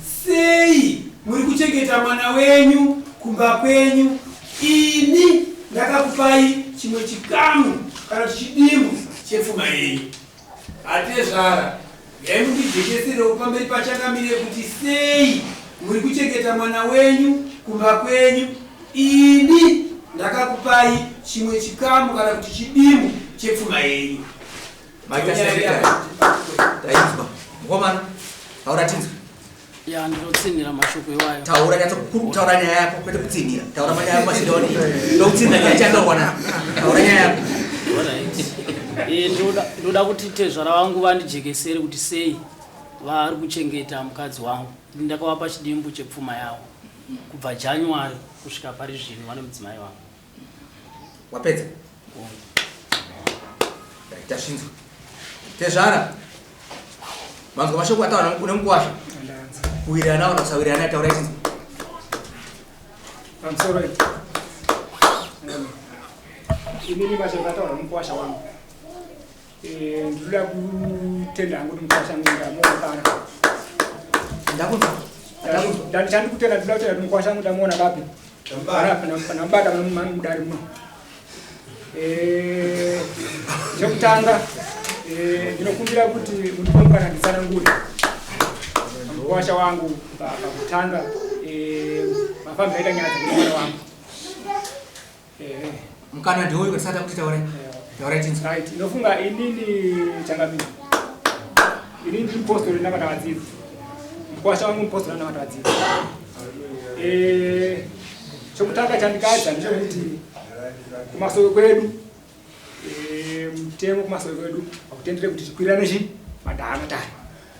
Sei muri kuchengeta mwana wenyu kumba kwenyu? Ini ndakakupai chimwe chikamu kana chidimu chepfuma yenyu. Atezvara, dai mundijekeserewo pamberi paChangamire kuti sei muri kuchengeta mwana wenyu kumba kwenyu. Ini ndakakupai chimwe chikamu kana kuti chidimu chepfuma yenyu. Mai Tashandika, taidzwa. Mukomana, hauratinzwe. Ya ndinotsinhira mashoko iwayo. Taura nyatso kukuru taura nyaya yako kwete kutsinhira. Taura manyaya yako mashidoni. Ndokutsinhira nyaya chandorwa na. Taura nyaya yako. Eh ndoda ndoda kuti tezvara vangu vandijekesere kuti sei vari kuchengeta mukadzi wangu. Ndakavapa chidimbu chepfuma yavo kubva January kusvika pari zvino vane mudzimai wangu. wapedza tashinzwa tezvara manzwa mashoko ataura une mukuwasha kuwirirana kana kusawirirana ataura isinzwa imini mashoko ataura mukuwasha wangu Eh, ndinoda kutenda hangu kuti mukwashangu ndamuona pano ndakunzwa ndakunzwa Ndani- ndani kutenda ndinoda kutenda kuti mukwashangu ndamuona papi panamubata mudari muno Eh, chekutanga eh, ndinokumbira kuti mundipombukana nditsanangure mukwasha wangu pa- pakutanga eh, mafambiro aita nyaya dzemwana wangu Eh. Mkana ndiwo uyu katisata kuti taure. Eh. Taure tinzi. Right. Inofunga inini changamizi. Inini ndi mpostori ndanga ndakadzidza. Mkwasha wangu mpostori ndanga ndakadzidza. Eh. Chokutanga chandikaita ndechekuti kumasoko kwedu eh mutemo kumasoko kwedu akutendere kuti tikwirirane chi madhara matari.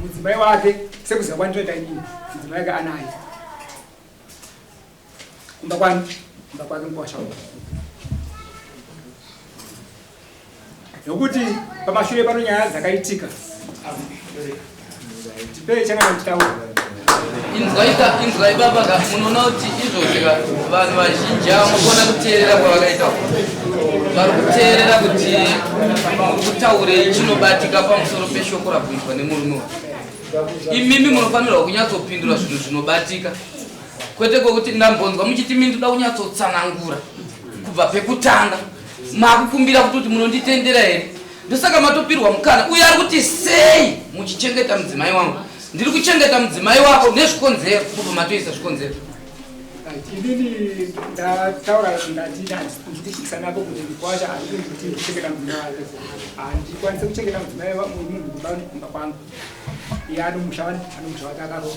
mudzimai wake sekuziva kwandinoita inini mudzimai wake anaye kumba kwani kumba kwake mukwashaua nokuti pamashure pano nyaya dzakaitika tipei changa tichitaura inzwaika inzwai baba ka munoona kuti izvozvi ka vanhu vazhinji avo mukuona kuteerera kwavakaita vari kuteerera kuti kutaurei chinobatika pamusoro peshoko rakuitwa nemurume wa imimi munofanirwa kunyatsopindura zvinhu zvinobatika kwete kwokuti ndambonzwa muchiti mini toda kunyatsotsanangura kubva pekutanga makukumbira kuti kuti munonditendera here ndosaka matopirwa mukana uye ari kuti sei muchichengeta mudzimai wangu Ndiri kuchengeta mudzimai wako nezvikonzero kubva matoisa zvikonzero. Inini ndataura ndati ndandikuchikisa nako kuti ndikwacha handii kuti ndichengeta mudzimai wake. Handikwanise kuchengeta mudzimai wangu munhu kumba kumba kwangu. Iye anomusha anomusha wake akaroa.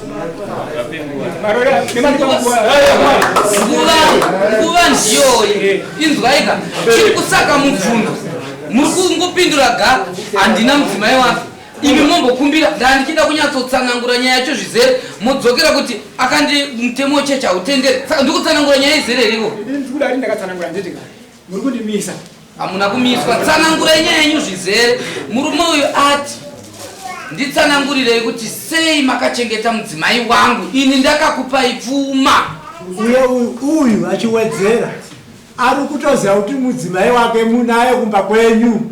nguva ndiyoyi inzwaika chiri kusaka mubvunzo muri kungopindura ga handina mudzimai wake imi mombokumbira ndandichida kunyatsotsanangura nyaya yacho zvizere modzokera kuti akandi mutemo chechi hautendere saka ndikutsanangura nyaya izere rivo Muri kundimisa. Hamuna kumiswa. Tsanangurai nyaya yenyu zvizere. Murume uyu ati nditsanangurirei kuti sei makachengeta mudzimai wangu ini ndakakupai pfuma. Uye uyu uyu achiwedzera ari kutoziva kuti mudzimai wake munaye kumba kwenyu.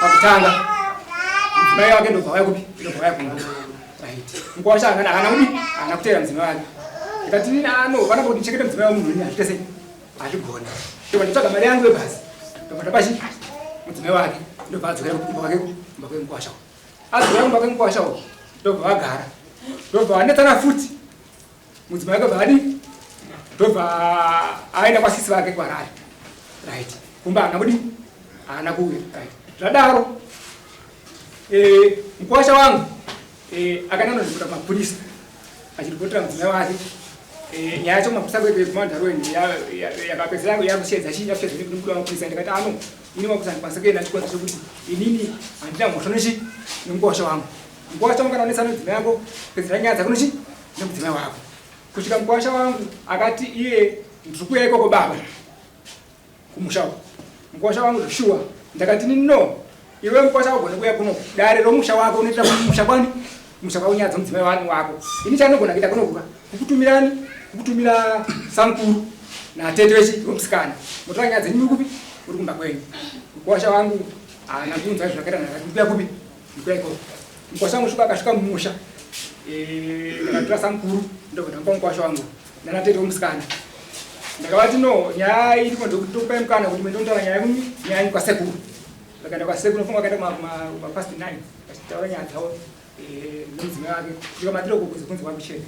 Pakutanga mudzimai wake ndobva vaya kupi ndobva vaya kumba right mkwasha akana haana kupi haana kuteera mudzimai wake ndikati nini ano vana kuti ndichekete mudzimai wamunhu ini hazviite sei hazvigona ndobva nditsvaga mari yangu yebhazi ndobva ndapachi mudzimai wake ndobva adzokera kumba kwake kumba kwemkwasha adzokera kumba kwemkwasha ndobva vagara ndobva vanetsana futi mudzimai akabva adi ndobva aenda kwasisi vake kwarari right kumba haana kudi haana kuuya right zvadaro eh, mukwasha wangu eh, akananozvikuta mapurisa achiripotera mudzimai wake eh, nyaya yacho mapurisa kuekumandaroeni yakapedzera yangu yakushedza chii yakushedza nekuda mapurisa ndikati ano ini mapurisa ndikwanisa kuenda chikonza chekuti inini handina mhosva nechi nemukwasha wangu mukwasha wangu kana unetsana mudzimai yako pedzera nyaya dzako nechi nemudzimai wako kusvika mukwasha wangu akati iye ndikuya ikoko baba kumusha uko mukwasha wangu zveshuwa ndakati ni no iwe mukwasha wagone kuya kuno dare romusha wako unoita musha kwani musha kwako nyaya dzomudzimai wani wako ini chanogona kuita kunokuka kukutumirani kukutumira samkuru natete vechi vomusikana motora nyaya dzenyu kupi uri kumba kwenyu mukwasha wangu haana kunzwa zvakaita ndikuya kupi ndikuya ikoko Mkwasha wangu shuka akasvika mumusha ndikatora samukuru ndobva ndamupa mukwasha wangu nanatete womusikana ndakavati no nyaya iripo ndokupai mukana kuti mendontaura nyaya kumi nyaya yangu kwasekuru vakaenda kwasekuru nofunga vakaenda kumapast nine vachitaura nyaya dzavo eh, nomudzimai wake ndikamatira uko kunze kunze kwakuchena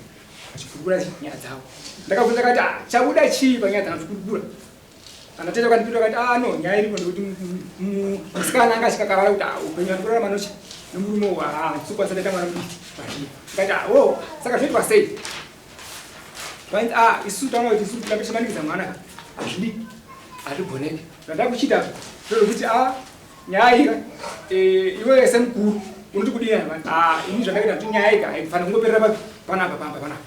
vachikurukura nyaya dzavo ndakabvunza kati ah, chabuda chii panyaya dzana zvikurukura kana tete kandipindura kati ah no nyaya iripo ndikuti musikana anga achikakarara kuti ah upenyu wati kurarama nochi nomurume uwa ah ndisokwanisa ndaita mwana mudiki kati ah wo oh, saka zvoitwa sei vanzi ah isu taona kuti isu kutambisa maningiza mwana ka hazvidi hazvigoneki zvada kuchita zvokuti ah nyaya ika eh, iwe semukuru unoti kudii ah ini zvandakaita kuti nyaya ika haifanira kungoperera panapa pamba panapa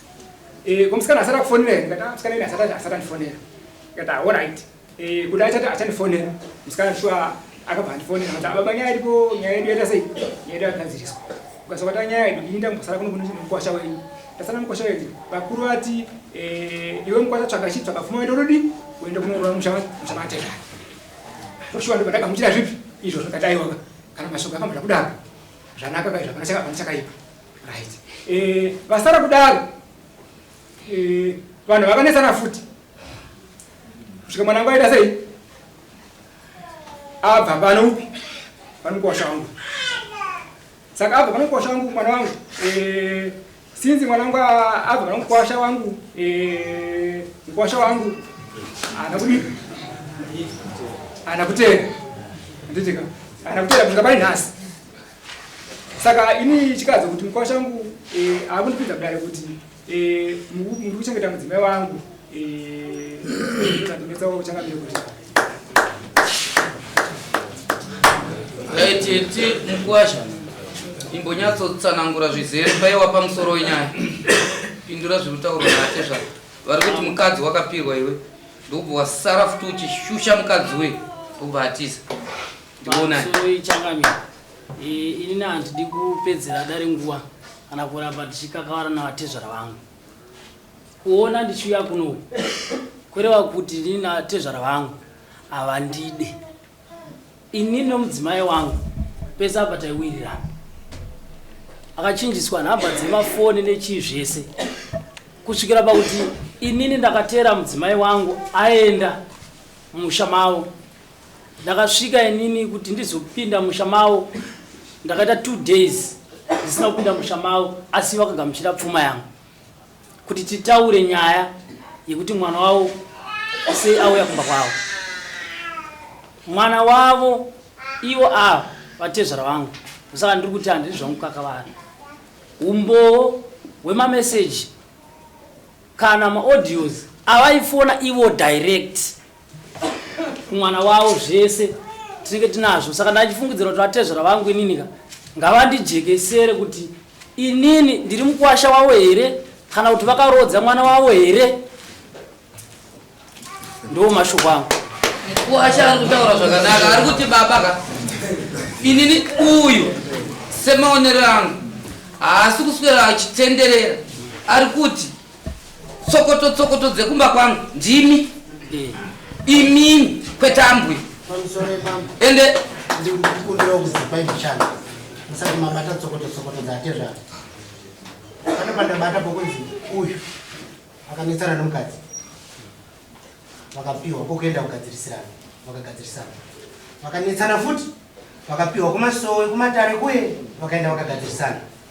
Eh, ko musikana asati akufonera here ndikati ah, musikana ini asati asati andifonera ndikati ah, alright eh, kuti achati achandifonera musikana shuwa akabva andifonera kuti ababa ah, nyaya iripo nyaya yedu yaita sei nyaya yedu yagadziriswa ukasakata nyaya yedu ini ndambosara kuno kune mukwasha wenyu ndasara mukwasha wenyu vakuru vati eh, iwe mukwasha tsvaga chii tsvaga pfuma wenda unodii wenda kunoroa musha mateka toshuwa ndobva ndagamuchira zvipi izvo zvakataiwaka kana mashoko akamboda kudaro zvanaka kaizvo hapana chakaipa right eh vasara kudaro eh vanhu vakanetsana futi kusvika mwana wangu aita sei abva pano upi vanokosha wangu saka abva vanokosha wangu mwana wangu eh sinzi mwana wangu abva vanokosha wangu eh mkosha wangu ana kudi ana kutera nditika ana kutera kusvika pari nhasi saka ini chikadzo kuti mukwa changu eh, akundipinza kudare kuti eh, muri kuchengeta mudzimai wangu zvatinetsa eh, uchangamire kuti tete mukwasha imbonyatsotsanangura zvizere paiwa pamusoro wenyaya pindura zviri kutaurwa nate zva vari kuti mukadzi wakapirwa iwe ndokubva wasara futi uchishusha mukadzi we ndokubva atiza ndiwonaichanganya ini na handidi kupedzera dare nguva kana kuramba ndichikakavara navatezvara vangu kuona ndichiuya kuno kureva kuti ini natezvara vangu havandide ini nomudzimai wangu pese apa taiwirirana akachinjiswa nhamba dzemafoni nechii zvese kusvikira pakuti inini ndakateera mudzimai wangu aenda mumusha mavo Ndakasvika inini kuti ndizopinda musha mavo ndakaita two days ndisina kupinda musha mavo asi vakagamuchira pfuma yangu kuti titaure nyaya yekuti mwana wavo sei auya kumba kwavo. Mwana wavo ivo ava vatezvara vangu saka ndiri kuti handiri zvangu kakavari umbowo hwemameseji kana maaudios avaifona ivo direct. kumwana wavo zvese tinenge tinazvo saka ndachifungidzira kuti vatezvera vangu ininika ngavandijekesere kuti inini ndiri mukwasha wavo here kana kuti vakarodza mwana wavo here ndo mashoko angu mukwasha ari kutaura zvakanaka ari kuti baba ka inini uyu semaonero angu haasi kuswera achitenderera ari kuti tsokoto tsokoto dzekumba kwangu ndimi eh. imimi kwetambwi ende ndikumbirawo kuzipa ivichana musati mabata tsokoto tsokoto dzatezvara pane pandabata pokunzi uyu akanetsana nomukadzi vakapiwa kokuenda kugadzirisirana vakagadzirisana vakanetsana futi vakapiwa kumasowe kumatare kuye vakaenda vakagadzirisana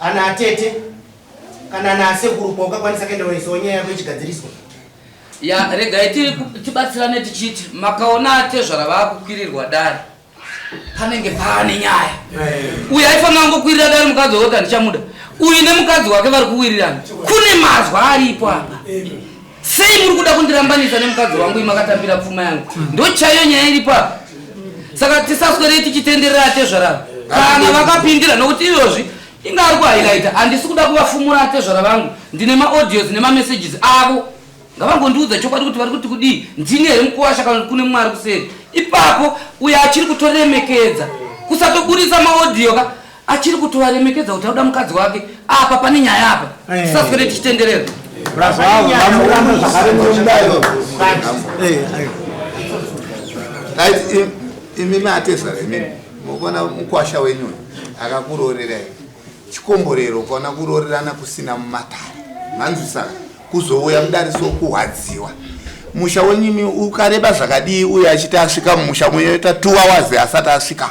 Ana atete kana ana asekuru kwaukakwanisa kuenda unoisawo nyaya yako ichigadziriswa. Ya regai tibatsirane tichiti makaona atezvara vakukwirirwa dare panenge paane nyaya. Uyu aifanira kungokwirira dare mukadzi wewota ndichamuda. Uyu nemukadzi wake vari kuwirirana. Kune mazwa aripo apa. Sei muri kuda kundirambanisa nemukadzi wangu imakatambira pfuma yangu? Ndochaiyo nyaya iripo apa. Saka tisaswerei tichitenderera atezvara kana vakapindira nokuti iyozvi inga ari kuhighlighta handisi kuda kuvafumura atezvara vangu ndine maaudios nemamessages avo ngavangondiudza chokwadi kuti vari kuti kudii ndini here mukuwasha kana kuti kune mwari kuseri ipapo uyo achiri kutoremekedza kusatoburitsa maaudio ka achiri kutovaremekedza kuti auda mukadzi wake apa pane nyaya apa eh. tisaswere tichitenderera imi matesa imi mukuona mukwasha wenyu akakuroorerai chikomborero ukaona kuroorerana kusina mumatare manzwisana kuzouya mudariso kuhwadziwa musha wenyimi ukareba zvakadii uye achiti asvika mumusha muyoita two hours asati asvika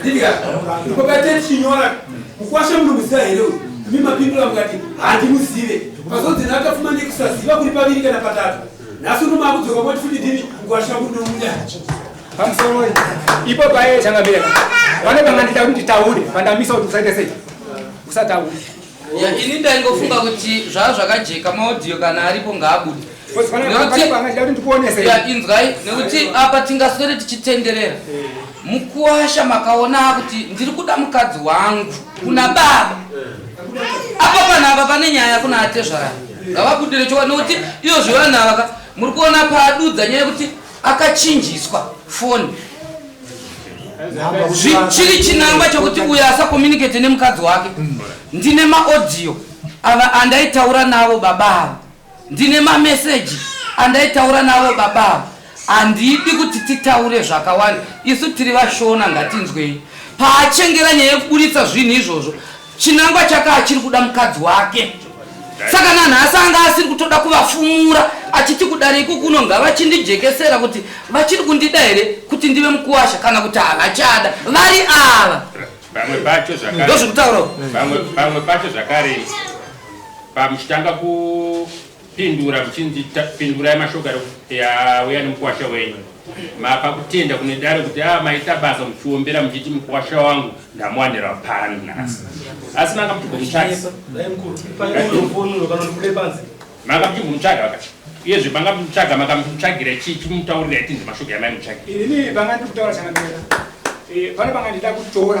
Ndidya. Kopete chinyora. Mukwasha munomuziva here uyu? Imi mapindura mukati handimuzive. Pazodzi nakafuma nekusaziva kuri paviri kana patatu. Nhasi uno makudzoka moti futi ndimi mukwasha kunomuda. Pamusoro wei. Ipo paye changa mbira. Vane pangandita kuti taure, pandamisa kuti usaite sei. Usataure. Ya, ini ndaingofunga kuti zvaa zvakajeka maaudio kana aripo ngaabude Because pana- Nekuti- pana- pana- achida kuti ndikuonese. ya inzwai nekuti apa tingaswere tichitenderera mukuwasha makaona kuti ndiri kuda mukadzi wangu kuna baba apa panhu apa pane nyaya kuna atezvarani ngavabudire chokwadi nekuti iyo zvivanhu avaka muri kuona padudza nyaya yekuti akachinjiswa foni chiri chinangwa chokuti uyo asakomunicate nemukadzi wake ndine maaudio ava andaitaura navo baba ava ndine mameseji andaitaura navo baba ava handidi kuti titaure zvakawanda isu tiri vashona ngatinzwei paachengera nyaya yekuburitsa zvinhu izvozvo Chinangwa chake achiri kuda mukadzi wake saka nanhasi anga asiri kutoda kuvafumura achiti kudare iko kuno ngavachindijekesera kuti vachiri kundida here kuti ndive mukuwasha kana kuti havachada vari ava ndozviri kutauraomwe pacho zvakare pamuchitanga Pindura kuchinzi pindurai mashoko auya nemukwasha wenyu. Mapa kutenda kune dare kuti a ah, maita basa muchiombera muchiti mukwasha wangu ndamuwanira pano nhasi. Asi manga muchigomutsvaka. Manga muchigomutsvaka vakati uyezve manga muchimutsvaga makamutsvagira chii chimutaurira itinzi mashoko yamai mutsvagira. Ini panga ndiri kutaura chakamira. Eh, pano panga ndida kutora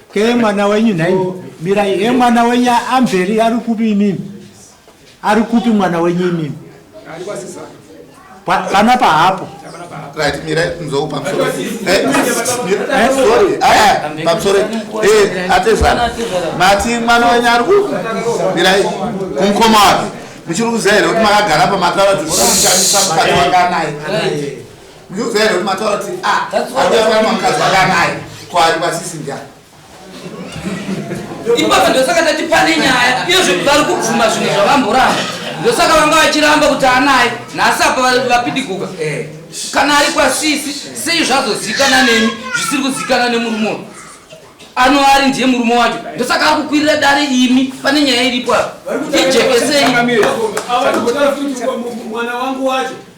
Ke mwana wenyu nhai mirai he mwana wenyu amberi ari kupi imimi ari kupi mwana wenyu imimi pana pahapo right mirai mzou pamusoro eh, sorry aya eh, pamusoro eh atezana mati mwana wenyu ari kupi mirai kumukoma wake muchiri kuziva here kuti makagara pamatara dzekusamushandisa mukati wanganaye Ndiudzai here kuti mataura kuti a ah, That's why arume they're akamwa mukadzi akanai ko ari pasisi ndiani ipapo ndosaka tati pane nyaya iyo zve- vari kubvuma zvinhu zvavamboramba ndosaka vanga vachiramba kuti anaye nhasi apa va- vapidiguka Eh. kana ari kwasisi sei zvazozikana nemi zvisiri kuzikana nemurume uyu ano ari ndiye murume wacho ndosaka ari kukwirira dare imi pane nyaya iripo apa ijekesei Chakamira. Ava kuti mwana wangu wacho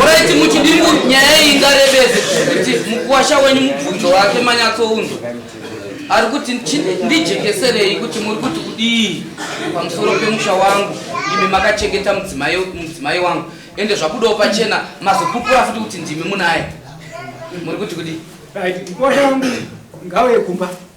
Alright muchidiri kuti nyaya iyi ingarebese kuti mukuwasha wenyu mubvunzo wake manyatsounzwa ari kuti ndijekeserei kuti muri kuti kudii pamusoro pemusha wangu imi makachengeta mudzimai wangu ende zvabudawo pachena mazopupura futi kuti ndimi munaye muri kuti kudii mukuwasha wangu ngauye kumba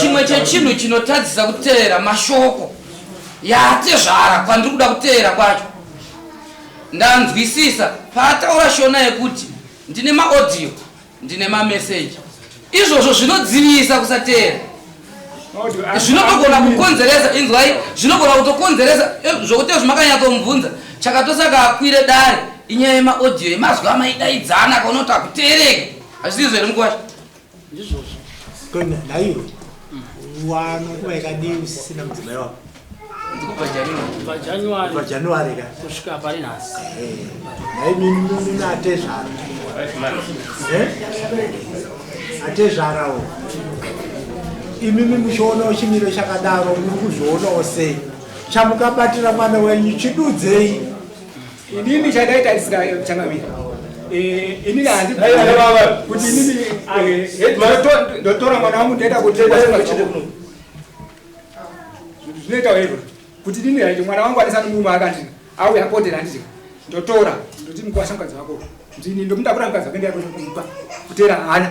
chimwe chechinhu chinotadzisa kuteera mashoko yaatezvara kwandiri kuda kuteera kwacho ndanzwisisa paataura shona yekuti ndine maaudio ndine mameseji izvozvo zvinodzivisa kusateera zvinotogona kukonzeresa inzwai zvinogona kutokonzeresa eh, zvokuti zvimakanyatomubvunza chakatosaka akwire dare inyaya yemaaudio yemazwi amaidaidzana kaunoti akuteereke hazvisizvo here mukwasha ndizvozvo kona naiwe wano nguva yakadii usisina mudzimai wako pajanuary ka kusvika pari nhasi naiminununu atezvara atezvarawo imimi muchionawo chimiro chakadaro muri kuzvionawo sei chamukabatira mwana wenyu chidudzei Inini chandaita ndisina changamira. Eh, inini handi kuti inini eh, ndotora mwana wangu ndoenda kuti zvinoita hero kuti inini haiti mwana wangu anisani muma akandina auya apotera handiti ndotora ndoti mukwasha mukadzi wako ndini ndomutakura mukadzi wako ndiyakupa kutera hana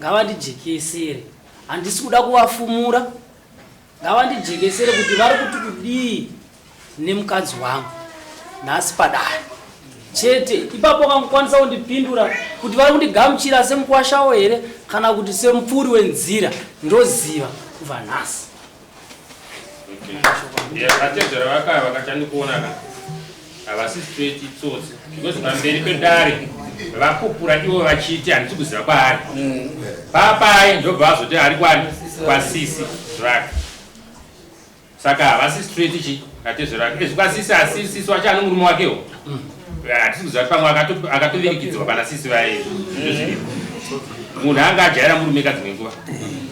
ngavandijekesere handisi kuda kuvafumura ngavandijekesere kuti vari kuti kudii nemukadzi wangu nhasi padare chete ipapo vakangokwanisa kundipindura kuti vari kundigamuchira semukwashawo here kana kuti semupfuri wenzira ndoziva kubva nhasi vatedzera vakaya vakachandikuona ka havasi straight itsotsi because pamberi pedare vakupura ivo vachiti handisi kuziva kwaari mm. papai ndobva vazoti ari kwani kwasisi zvake saka havasi straight chi vatedzera vake ezvikwasisi asisisi wacho anomurume wakewo mm. hatisi kuziva kuti pamwe akatovirikidzwa pana sisi vaye izvo zviriko munhu anga ajaira murume ka dzimwe nguva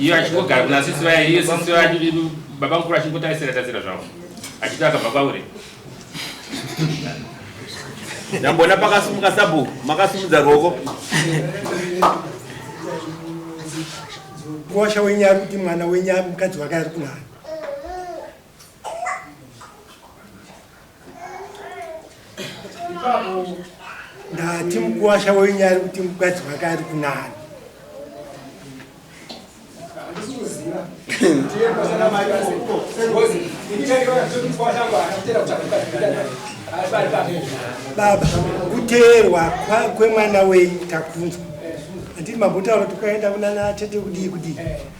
iyo achingogara kuna sisi vaye iyo sisi vaye baba mukuru achingotarisira tarisira zvavo achiti akabva kwauri ndambona pakasumuka sabhuku makasumudza ruoko kosha wenyari kuti mwana wenyari mukadzi wake ari kunani ndati mukuwasha wenyu ari kuti mukadzi wake ari kunani baba kuteerwa kwemwana wenyu takunzwa anditi mambotaura tokaenda kunana tete kudii kudii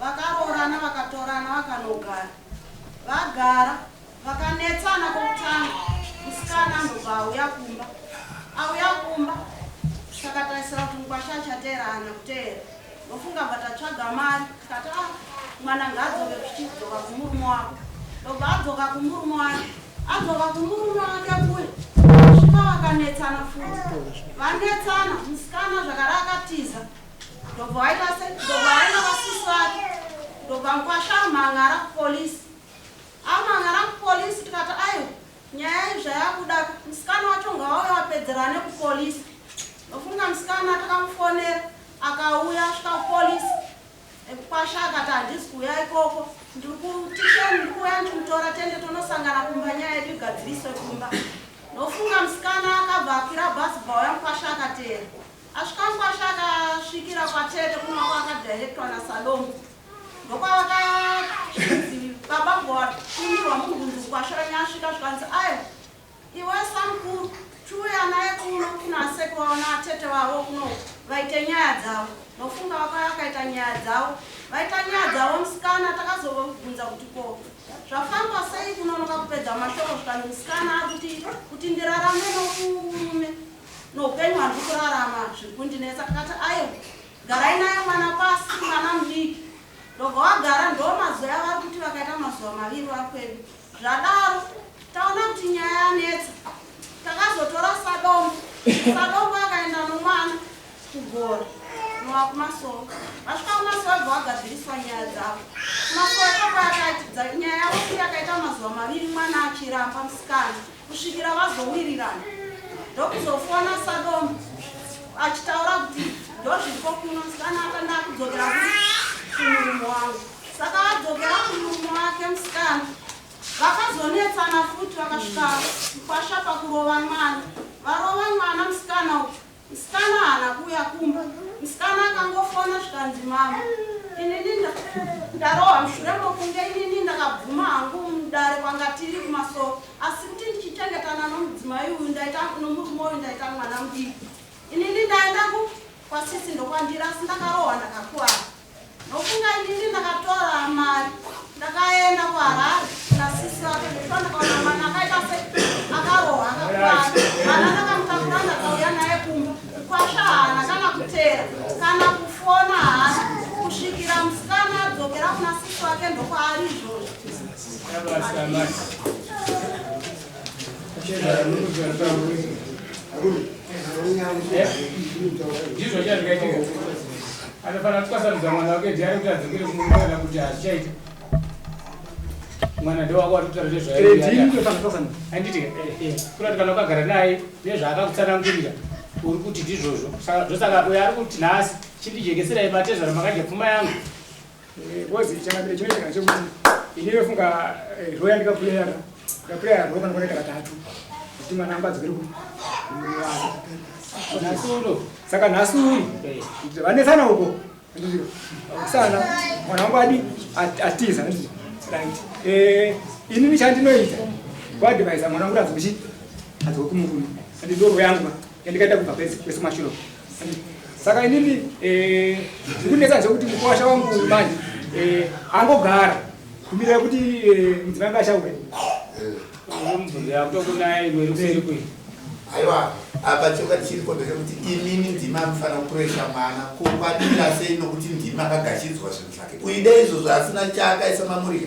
Vakaroorana vakatorana vakanogara. Vagara vakanetsana kokutanga musikana anobva auya kumba. Auya kumba takatarisira kuti mukwasha achateera ana kuteera. Ndofunga bva tatsvaga mari tikati ah mwana ngaadzoke kuchidzoka kumurume wako. Ndobva adzoka kumurume wake. Adzoka kumurume wake kuye kusvika vakanetsana futi. Vanetsana musikana zvakare akatiza. ndobva waita se ndobva waenda kwasisi vake ndobva mkwasha amhan'ara kupolisi amhan'ara kupolisi tikati aiwa nyaya iyi zvayakuda musikana wacho ngawauye wapedzerane kupolisi ndofunga musikana takamufonera akauya asvika kupolisi ekukwasha akati handisi kuuya ikoko ndiri kutisheni ndiri kuuya ndichimutora tende tonosangana kumba nyaya yedu igadziriswe kumba ndofunga musikana akabva akwira bhasi bva uya mukwasha akateera Asvikakwashe akasvikira kwatete kunova kwakadirectwa nasalongo ndokwavakazvinzi baba bhora kumirwa mubvunzi kwashe ranya asvika zvikanzi ayo iwe samkuru chiuya naye kuno kuna aseki vavo naatete vavo kuno vaite nyaya dzavo nofunga vakauya vakaita nyaya dzavo vaita nyaya dzavo musikana takazovabvunza kuti ko zvafamba sei kunonoka kupedza mashoko zvikanzi musikana akuti kuti ndirarame nomurume Noupenyu handiri kurarama zviri kundinetsa ndikati ayo garai naye mwana pasi mwana mudiki ndobva wagara ndo mazuva yavari kuti vakaita mazuva maviri vari kwedu zvadaro taona kuti nyaya yanetsa takazotora sadombo sadombo akaenda nomwana kugora nowa kumasoro vasvika kumasoro bva wagadziriswa nyaya dzavo kumasoro kwakayakati nyaya yavo kuti akaita mazuva maviri mwana achiramba musikana kusvikira vazowirirana ndokuzofona sadomu achitaura kuti ndozviko kuno musikana akanda akudzokera kumurume wangu saka vadzokera kumurume wake musikana vakazonetsana futi vakasvika mukwasha pakurova mwana varova mwana musikana uku Musikana haana kuuya kumba. Musikana akangofona zvikanzi mama inini ndarohwa mushure mokunge inini ndakabvuma hangu mudare kwanga tiri kumasoro asi kuti ndichichengetana nomudzimai uyu ndaita nomurume uyu ndaita mwana mudiki inini ndaenda kwasisi ndokwandira asi ndakarohwa ndakakuvara Ndofunga inini ndakatora mari ndakaenda kuHarare kuna sisi vake ndifana ndakaona mwana akaita se akarohwa akakwana mwana ndakamutakura ndakauya naye kumba kukwasha hana kana kutera kana kufona hana kusvikira musikana adzokera kuna sisi vake ndokwaari izvozvo ndizvo chazvikaitika Anofanira kutwasanudza mwana wake diary kuti adzokere kumumba kana kuti hazvichaita. Mwana ndewako watotaura nezvayo. Handiti eh, eh, kurati kana ukagara naye nezvaakakutsanangurira uri kuti ndizvozvo. Saka zvosaka uyo ari kuti nhasi chindijekeserai matezvara makadya pfuma yangu. Ngozi eh, chakambira chinoita kana chekuti ini ndofunga eh, rho yandikapuleya ka ndapuleya rho kana kwakaita katatu kuti mwana amba adzokere ku saka nhasi uno vanetsana uko sana mwana wangu adi atiza eh, ini ndichandinoita kuadvaisa mwana wangu kuti azokuchii azokumukuma andidorwo yangu yandikaita kubva pese kwese mashuro saka inini eh, ndikunetsa zvekuti mukwasha wangu manje eh, angogara kumirira kuti eh, mudzimai anga achauya aiwa apa choka chiriko ndechekuti imimi ndimi anofanira kuresha mwana kuvadira sei nokuti ndimi akagashidzwa zvinhu zvake uida izvozvo asina chaakaisa mamuriro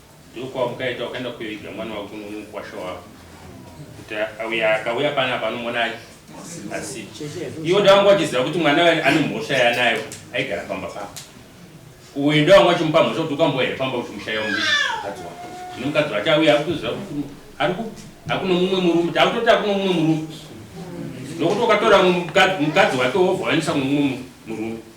Ndokwaukaita ukaenda kuviga mwana wako nomukwasha wako kuti auya akauya pana panomuona asi iwo ndawanga wachiziva kuti mwana waye ane mhosva yanayo aigara pamba pako uyu ndawanga wachimupa mhosva kuti ukamboya here pamba uchimushaya mukadzi wako zvino mukadzi wacho auya akutoziva kuti ari kupi akuno mumwe murume taakutoti akuno mumwe murume nokuti ukatora mukadzi wake wobva waendisa kumumwe murume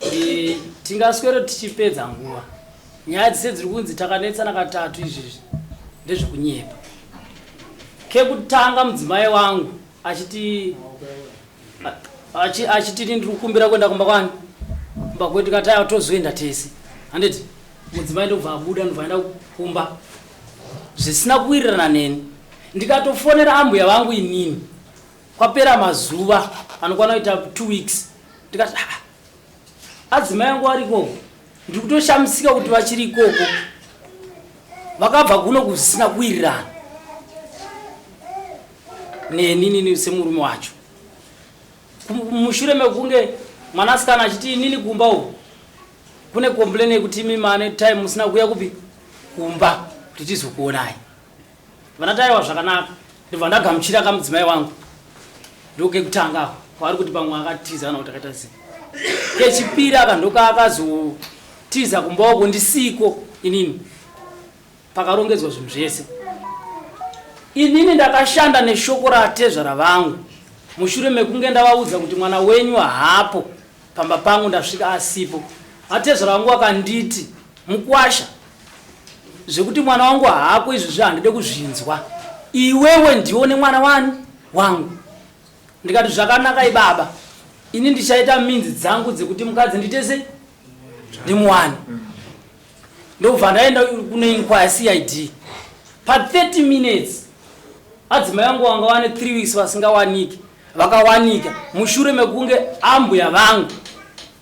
Eh, tingaswero tichipedza nguva nyaya dzise dziri kunzi takanetsana katatu izvizvi ndezvekunyepa kekutanga mudzimai wangu achiti achiti ini ndiri kukumbira kuenda kumba kwani kumba kwedu kataya tozoenda tese handiti mudzimai ndokubva abuda ndobva aenda kumba zvisina kuwirirana neni ndikatofonera ambuya vangu inini Kwapera mazuva anokwana kuita two weeks ndikati ah, adzimai yangu ari ikoko ndiri kutoshamisika kuti vachiri ikoko vakabva kuno kusina kuwirirana neninini semurume wacho mushure mekunge mwanasikana achiti inini kumba uku kune komplain yekuti imi mane time musina kuya kupi kumba kuti tizokuonai Vana Taiwa zvakanaka ndibva ndagamuchira ka mudzimai wangu ndoke kutanga ako kwaari kuti pamwe akatiza kana kuti akaita sei kechipiri aka ndoka akazotiza kumboko ndisiko inini pakarongedzwa zvinhu zvese inini ndakashanda neshoko ratezvara vangu mushure mekunge ndavaudza kuti mwana wenyu haapo Pamba pangu ndasvika asipo. Atezvara wangu wakanditi mukwasha zvekuti mwana wangu haako izvozvi handide kuzvinzwa. Iwewe ndione mwana wani wangu. Ndikati zvakanaka ibaba ini ndichaita minzi dzangu dzekuti mukadzi nditese ndimuwani. Ndobva ndaenda kune inquiry CID. Pa 30 minutes adzimai wangu wanga wane 3 weeks vasingawaniki. vakawanika mushure mekunge ambuya vangu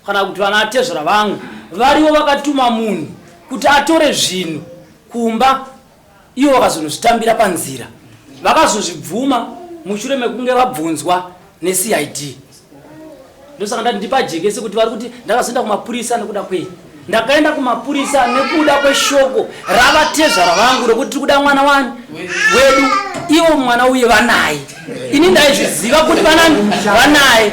kana kuti vanatezvara vangu varivo vakatuma munhu kuti atore zvinhu kumba ivo vakazonozvitambira panzira vakazozvibvuma mushure mekunge vabvunzwa necid ndosaka ndati ndipajekese kuti vari kuti ndakazoenda kumapurisa nekuda kwei ndakaenda kumapurisa nekuda kweshoko ravatezvara vangu rokuti tiri kuda mwana wani wedu ivo mwana uye vanaye ini ndaizviziva kuti vanani vanaye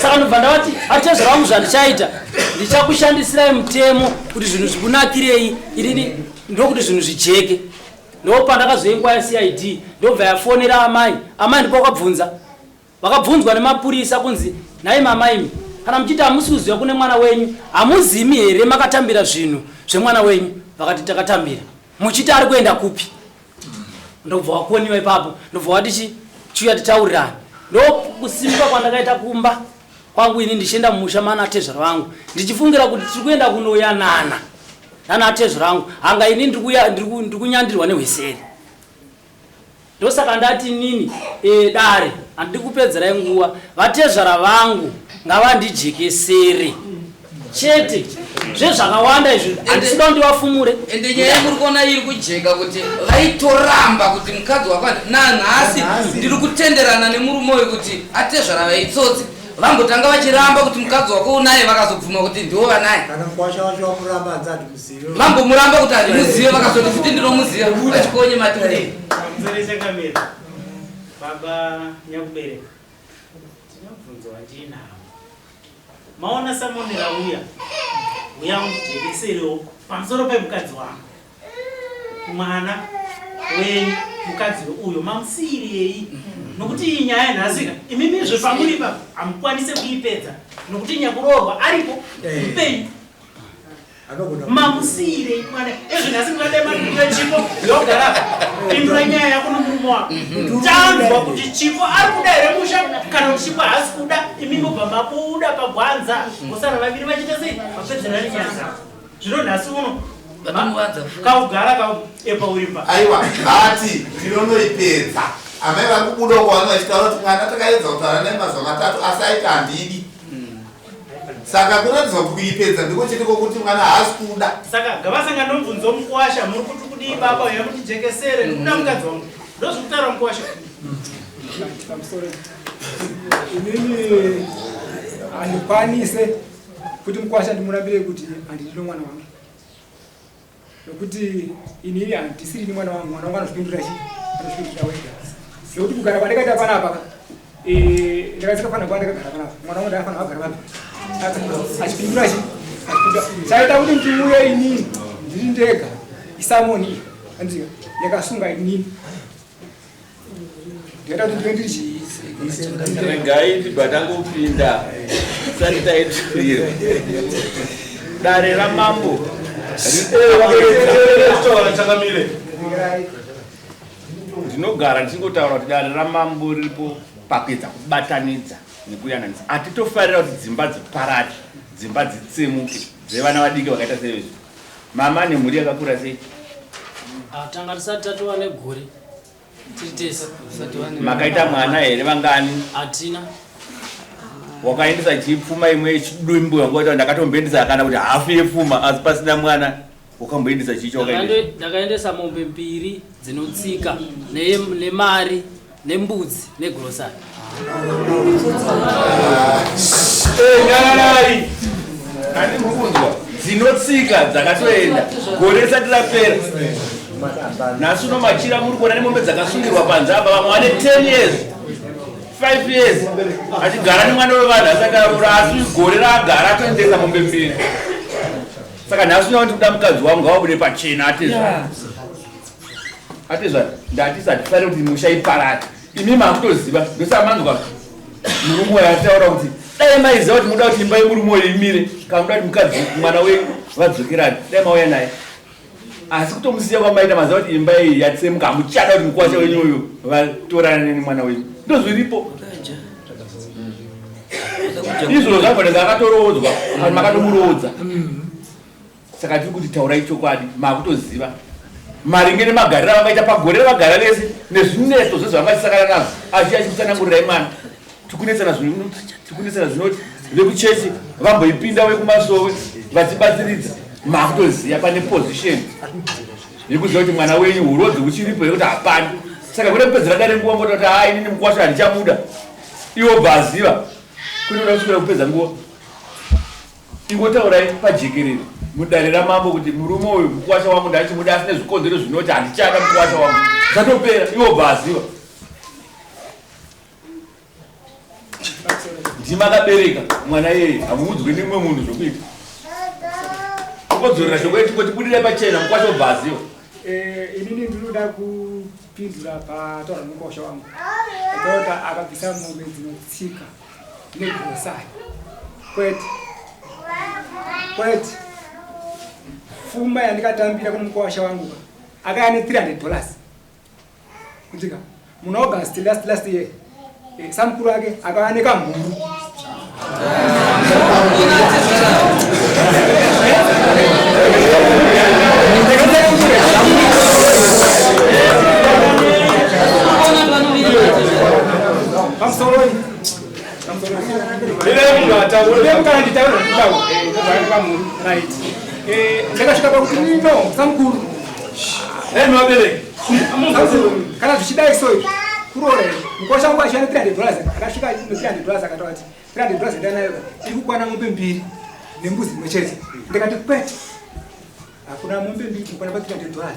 saka ndobva ndavati atezvara vangu zvandichaita ndichakushandisirai mutemo kuti zvinhu zvikunakirei inini ndokuti zvinhu zvijeke ndopandakazoengwa yacid ndobva yafonera amai amai ndipo kwabvunza Vakabvunzwa nemapurisa kunzi, nhai mama imi kana muchiti hamusi kuziva kune mwana wenyu hamuzimi here makatambira zvinhu zvemwana wenyu? Vakati takatambira. Muchiti ari kuenda kupi? Ndobva wakoniwa ipapo ndobva wati chi chiuya titaurirane. Ndokusimuka kwandakaita kumba kwangu ini ndichienda mumusha mana tezvara vangu ndichifungira kuti tiri kuenda kunoyanana nana tezvara vangu hanga ini ndiri kunyandirwa nehwiseri Ndosaka ndati inini eh, dare handidi kupedzerai nguva, vatezvara vangu ngavandijekesere chete zvezvakawanda izvi handisi kuda ndivafumure ende nyaya yamuri kuona iri kujeka kuti vaitoramba kuti mukadzi wakwana nanhasi ndiri kutenderana nemurume uyu kuti atezvara vaitsotsi vambotanga vachiramba kuti mukadzi wako unaye vakazobvuma kuti ndiwo vanaye kana kwasha wacho wakuramba hanzi ati Mambo muramba kuti handimuzive vakazoti futi ndinomuziva vachikonye mati kudei. Mzerese kamiro. Baba nyakubereka. Tinobvunzo wandinawo. Maona samoni rauya. Uya undijekeserewo pamusoro pemukadzi wangu. Mwana wenyu mukadzi uyo mamusiyirei nokuti iyi nyaya yanhasika imimizve pamuri ipapo hamukwanise kuipedza nokuti nyakuroorwa aripo mupenyu mamusiirei mwana ezvo nhasi mwadai makudiwa chipo yogara pindura nyaya yako nomurume wako mhm. tanzwa kuti chipo ari kuda here musha kana kuti chipo haasi kuda imi mobva makuuda pagwanza kusana mhm. vaviri vachiita sei vapedzerani nyaya dzavo zvino nhasi uno kaugara kaepa uri pa aiwa ati ndinonoipedza amai vari kubuda uko vano vachitaura kuti mwana takaedza kutaura nai mazuva matatu asi aita handidi saka kuratidzwa kuti kuipedza ndiko chete kwokuti mwana haasi kuda saka gavasanga ndomubvunzo mukwasha muri kuti kudii baba uya kuti jekesere ndikuda mukadzi wangu ndozvikutaura mukwasha inini handikwanise kuti mukwasha ndimurambire kuti handidi nomwana wangu nokuti ini handisiri ni mwana wangu mwana wangu anozvipindura chi anozvipindura wega nokuti kugara kwandakaita panapa eh, ndakasika fana kuva ndakagara panapa mwana wangu ndakafana kugara panapa achipindura chi chaita kuti ndiuye inini ndiri ndega isamoni andiziva yakasunga inini regai ndibatangopinda sati taiturirwa dare ramambo ndinogara ndichingotaura kuti dare ramambo riripo pakuedza kubatanidza nekuyananisa hatitofarira kuti dzimba dziparati dzimba dzitsemuke dzevana vadiki vakaita sevezvi Mama ane mhuri yakakura sei? Ah, tanga tisati tatova negore tiri tese. Makaita mwana here vangani? Hatina. Wakaendesa chii pfuma imwe yechidumbu yangu wati ndakatomboendesa kana kuti hafu yepfuma asi pasina mwana wakamboendesa chii chawakaendesa? Ndakaendesa mombe mbiri dzinotsika nemari nembudzi negrocery nyararai kani mukunzwa dzinotsika dzakatoenda gore risati rapera nhasi uno machira muri kuona nemombe dzakasungirwa panze apa vamwe vane 10 years 5 years achigara nemwana wevanhu asati arura asi gore raagara atoendesa mombe mbiri saka nhasi uno ndikuda mukadzi wangu awabude pachena atezva Atezvara ndatisa tifare kuti musha iparare imi makutoziva ndosamanzwa murume wayo ataura kuti dai maiziva kuti muda kuti imba yemurume wayo imire kana muda kuti mukadzi mwana wenyu vadzokerani dai mauya naye asi kutomusiya kwamaita maziva kuti imba iyi yatsemuka hamuchada kuti mukwasha wenyu uyu vatorane nemwana wenyu ndozviripo izvozvo zvagona akatorowodzwa kana makatomuroodza mm. Saka tiri kuti taurai chokwadi, makutoziva maringe nemagariro avakaita pagore ravagara vese nezvinetso zvezvavakasakana nazvo asi achikutsanangurirai mwana tikunetsana tikunetsana zvinoti vekuchechi vamboipinda vekumasowe vachibatsiridza makutoziva pane position yekuziva kuti mwana wenyu urodzi huchiripo yekuti hapani saka kuda kupedzera dare nguva ngoda kuti haa inini mukwasho handichabuda iwo bvaziva kunoda kuswera kupedza nguva Ingotaurai pajekerere mudare ramambo kuti murume uyu mukuwasha wangu ndachimuda asi nezvikonzero zvinoti handichada mukuwasha wangu zvatopera iwo bva aziva ndima akabereka mwana iyeye hamuudzwe nemumwe munhu zvokuita ukodzorera shoko yeti kuti budirai pachena mukwasha ubva aziva eh, inini ndinoda kupindura pataura mukwasha wangu akaota akabvisa mombe dzinotsika negrosari kwete kwete fumba yandikatambira kune mukwasha wangu ka akaya ne 300 dollars kutika muna august last last year eh, samukuru ake akaya nekamhuru ndakasvika pakuti no samukuru kana zvichidai so kurore mukosha wangu achana 300 dollars akasvika 300 dollars akataura kuti 300 dollars ndanayo iri kukwana mombe mbiri nembuzi imwe chete ndikati kwete hakuna mombe mbiri kukwana pa 300 dollars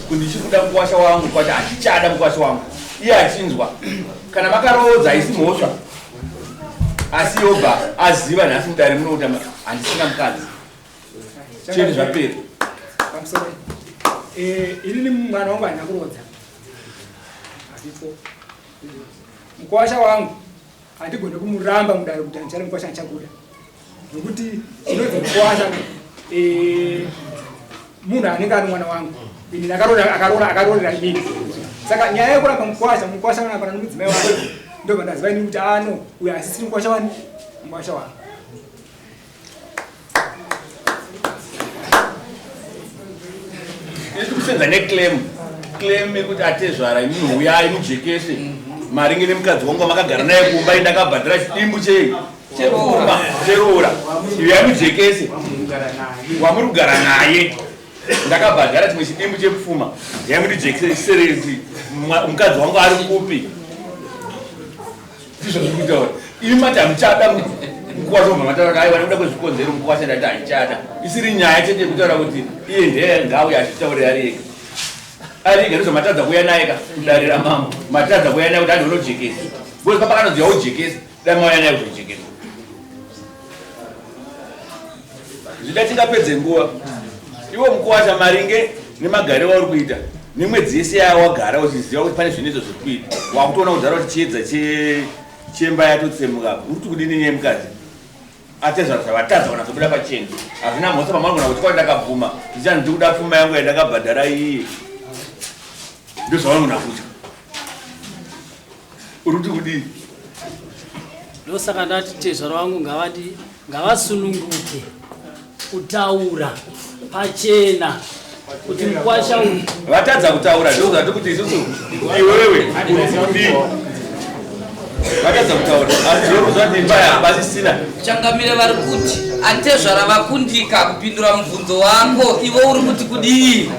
kuti ndichiri kuda mukwasha wangu kwati handichada mukwasha wangu iye achinzwa kana makaroodza haisi mhosva asi yobva aziva nhasi mudare muno kuti handisina mukadzi chete zvapera eh, inini mwana wangu handina kuroodza asipo mukwasha wangu Hatigone kumuramba mudare kuti handichari mukwasha ndichakuda nokuti chinonzi mukwasha eh, munhu anenge ari mwana wangu ini akarorera inini saka nyaya yekuramba mukwasha mukwasha vanapana nomudzimai wake ndopandaziva inini kuti ano ah, uyo asisiri mukwasha wani mukwasha wangu kusenda neclaim claim yekuti atezvara imi huyai mujekese maringe nemukadzi wangu amakagara naye kumba indakabhadhira chidimbu chei chekumba cheroora huyai mujekese wamuri kugara naye ndakabhadhara chimwe chidimbu chekufuma yai mundijekese serezi mukadzi wangu ari kupi ndizvo zviri kutaura imi mati hamuchada mukuwasha kubva mataura aiwa nekuda kwezvikonzero mukuwasha ndati haichada isiri nyaya chete yekutaura kuti iye ndeye ngauye achitaurira ari ega ari ega ndizvo matadza kuuya naye ka kudare ramambo matadza kuuya naye kuti adi unojekesa bcause papakanonzi yaujekesa dai mauya naye kuzojekesa Zvida tingapedze nguva iwo mukuwasha maringe nemagariro auri kuita nemwedzi yese yawagara uchiziva kuti pane zvinetso zviri kuita wakutoona kudhara kuti chiedza chemba yatotsemuka uri kuti kudini nyaya mukadzi atezvaro zvavatadza kana zvobuda pacheni hazvina mhotsa pamangona kuti kwai ndakabvuma ndichani ndiri kuda pfuma yangu yandakabhadhara iyi ndozvavanogona kutya uri kuti kudii ndosaka ndati tezvaro vangu ngavadi ngavasununguke kutaura pachena kuti mkwasha uyu vatadza kutaura ndozvati kuti isusu iwewe vatadza kutaura azviokuzvatimbaaasisina changamire vari kuti atezvara vakundika kupindura mubvunzo wako ivo uri kuti kudii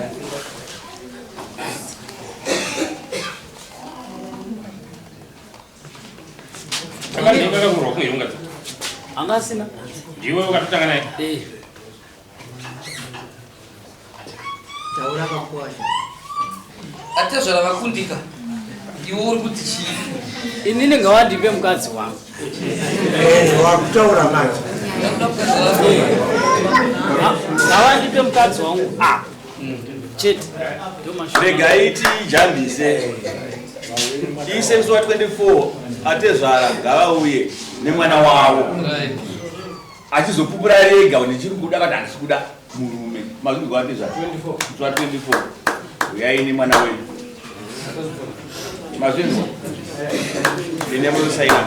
anga asina ndiwe ukatotanga naye eh. taura vakwasha atezvara vakundika iwe uri kuti chii ini ndinga wandipe mukadzi wangu eh, wakutaura manje ngawandipe mukadzi wangu apa ah. regai tijambise tiise zuva 24 atezvara ngavauye nemwana wavo achizopupura rega nechiri kuda kana handisi kuda murume mazvinzwa atezvara zuva 24 uyai nemwana wenyu mazvinzwa ende munosaina